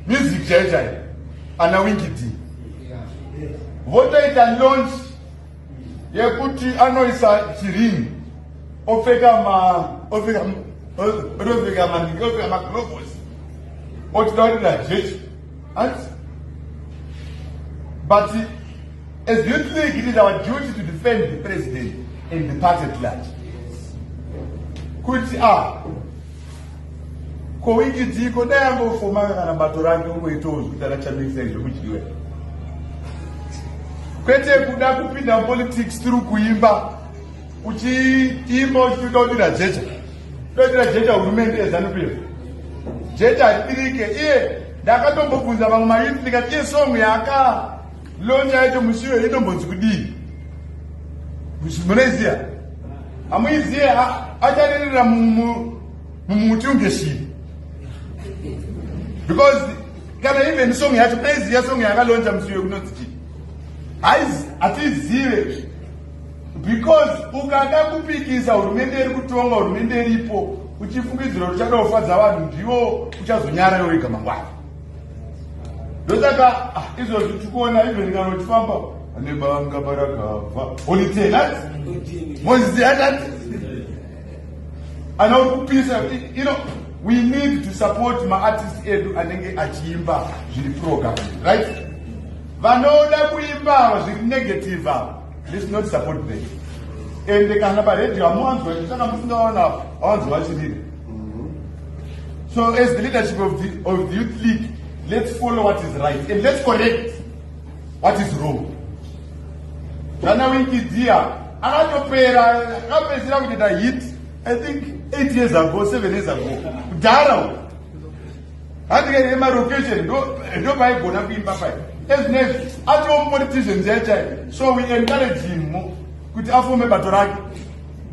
music chaiyo chaiyo ana wingidi votoita launch yekuti anoisa chirini opfeka ma opfeka otopfeka manhingi opfeka maglobos otitaurira jechi hanzi but as you think it is our duty to defend the president and the party at large kuti a ah, Ko wiki dziko dai ambofoma kana bato rake ungoitawo zvekuti anachamisa izvo kudyiwa kwete kuda kupinda mupolitics tiri kuimba uchiimba uchitoda kudira jecha todira jecha hurumende yezanup iyo jecha haridirike iye ndakatombobvunza vamwe mayuth ndikati iye song yaka Lonje yacho mushiwe inombonzi kudii? Munoiziya? Hamuiziye acharirira mumuti unge shiri. Because kana even song yacho munoiziya song yakalonja mushiwe kunonzi chii? Haizi hatizive because ukada kupikisa hurumende iri kutonga hurumende iripo uchifungidzira kuti uchada kufadza vanhu ndivo uchazonyara iwe wega mangwana ndosaka ah, izvozvi tikuona even kana uchifamba ane banga barakabva olitenat mozizianat ana uri kupisa you know we need to support maartist edu anenge achiimba zviri program right vanoda kuimba ava zviri negative ava This is not support them. Ende kana pa radio amuwanzwa chitanga musingawana awanzwa chirire. Mm-hmm. So as the leadership of the, of the youth league, let's follow what is right and let's correct what is wrong. Jana winki dia akatopera akapedzira kuita hit I think 8 years ago 7 years ago kudhara hanzi ke emalocation ndo paigona kuimba pai ezvinezvi atiwo mupolitician chai chai so we encourage him mo kuti afome bato rake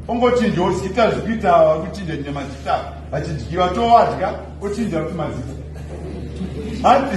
ongochinja ozita zvikuita vakuchinja chinja mazita vachidyiwa towadya ochinja kuti mazita hanzi